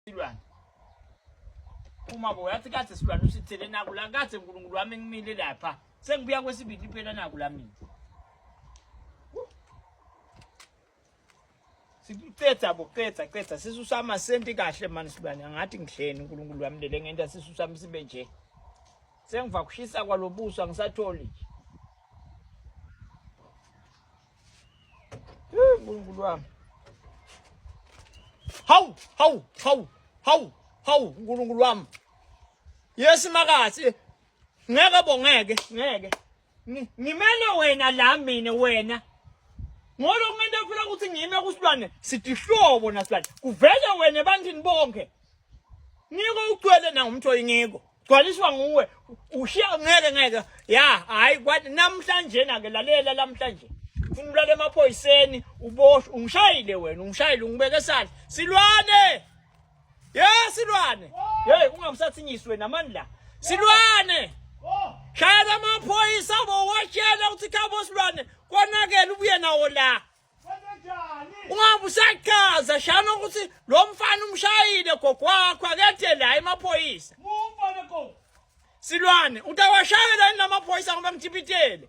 silwane uma bo yathi kade silwane usithele naku la kade uNkulunkulu wami ngimile lapha sengibuya kwesibili phela naku la mina sikucetha bo cetha cetha sisusa amasenti kahle mani silwane angathi ngihleni uNkulunkulu wami lele ngenta sisusa msibe nje sengiva kushisa kwalobuso angisatholi nje Nkulunkulu wami. Hawu, hawu, hawu, hawu, hawu Nkulunkulu wami. Yes makathi. Ngeke bo ngeke, ngeke. Ngimele wena la mina wena. Ngolo ngento phela ukuthi ngime kusilwane sithi hlobo nasilwane. Kuvele wena ebantwini bonke. Ngiko ugcwele na umuntu oyingiko. Gcwaliswa nguwe. Ushiya ngeke ngeke. Ya, hayi kwathi namhlanje na ke lalela namhlanje. Ufuna ulala emaphoyiseni, uboshwe, ungishayile wena, ungishayile ungibeke sandla. Silwane! Ye silwane. Hey, ungamsathinyiswe namandla. Silwane! Shayela amaphoyisa bo watshela ukuthi khabo silwane konakele ubuye nawo la. ungabe usachaza shana ukuthi lo mfana umshayile gogo wakho akethe la emaphoyisa silwane utawashayela yini lamaphoyisa ngoba ngithipitele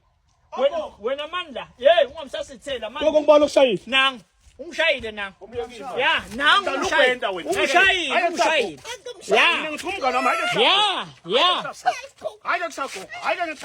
wena mandla yeyi ungamsasithela manje koko ngibala ukushayisa nangu umshayile na ya nangu umshayile umshayile umshayile ya ya ya